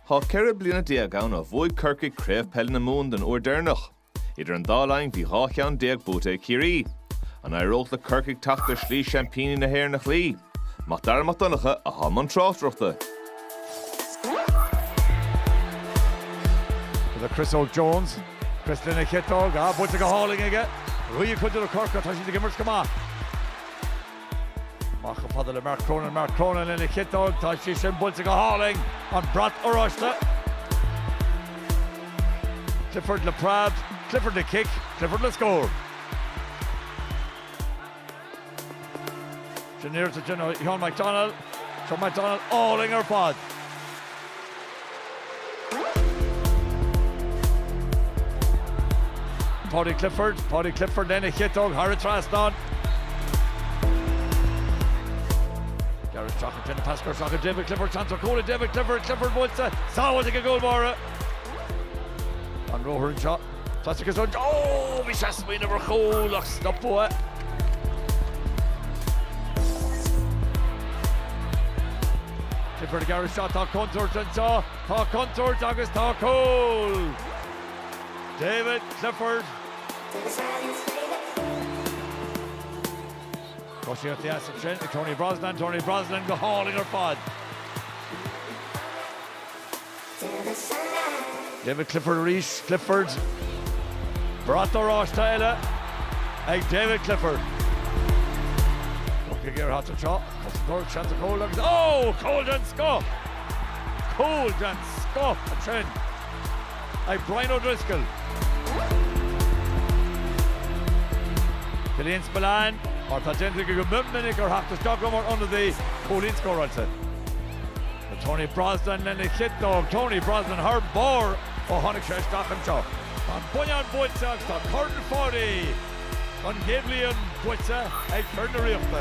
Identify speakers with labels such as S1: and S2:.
S1: Tá ceithre bliana déag ann ó bhuaigh Corcaigh Craobh Peile na Mumhan den uair deireanach. Idir an dá linn bhí dhá cheann déag buaite ag Ciarraí. An éireodh le Corcaigh teacht ar shlí seaimpíní na hÉireann a chloí? Mac Dara Mac Donncha atá i mbun tráchtaireachta. Is é Chris Óg Jones. Chris lena chiotóg. Á, buailte go hálainn aige. Dhóigh cuid de na Corcaígh, tá siad ag imirt go maith. Amach chomh fada le Mark Cronin, Mark Cronin lena chiotóg, tá sé sin buailte go hálainn, an brat oráiste. Clifford le preab, Clifford le cic, Clifford le scór. Sin iarracht ansin ó Seán McDonnell, Seán McDonnell álainn ar fad. Paudie Clifford, Paudie Clifford lena chiotóg thar an trasnán. Garret Crocker, Déanann pas trasna chuig David Clifford seans ar chúl ag David Clifford, Clifford buailte, sábháilte ag an gcúl báire. An róthar anseo. Is dóigh san áit a bhí sé ag smaoineamh ar chúl ach stopadh. Clifford aige anseo, tá contúirt anseo, tá contúirt agus tá cúl! David Clifford. Tosaíocht dheas ansin ag Tony Brosnan, Tony Brosnan go hálainn ar fad. David Clifford arís, Clifford. Brat oráiste eile ag David Clifford. Corcaigh ag iarraidh teacht anseo, cosantóir seans ar chúl agus oh! Cúl den scoth! Cúl den scoth ansin ag Brian O'Driscoll. Killian Spillane, mar atá déanta aige go mion minic ar teacht isteach dó mar ionadaí, cúilín scóráilte. Tony Brosnan lena chiotóg. Tony Brosnan thar barr ó tháinig sé isteach anseo. Tá an Mhumhain buaite agus tá Corn Pháidí don chéad bhliain buaite ag fir na Ríochta.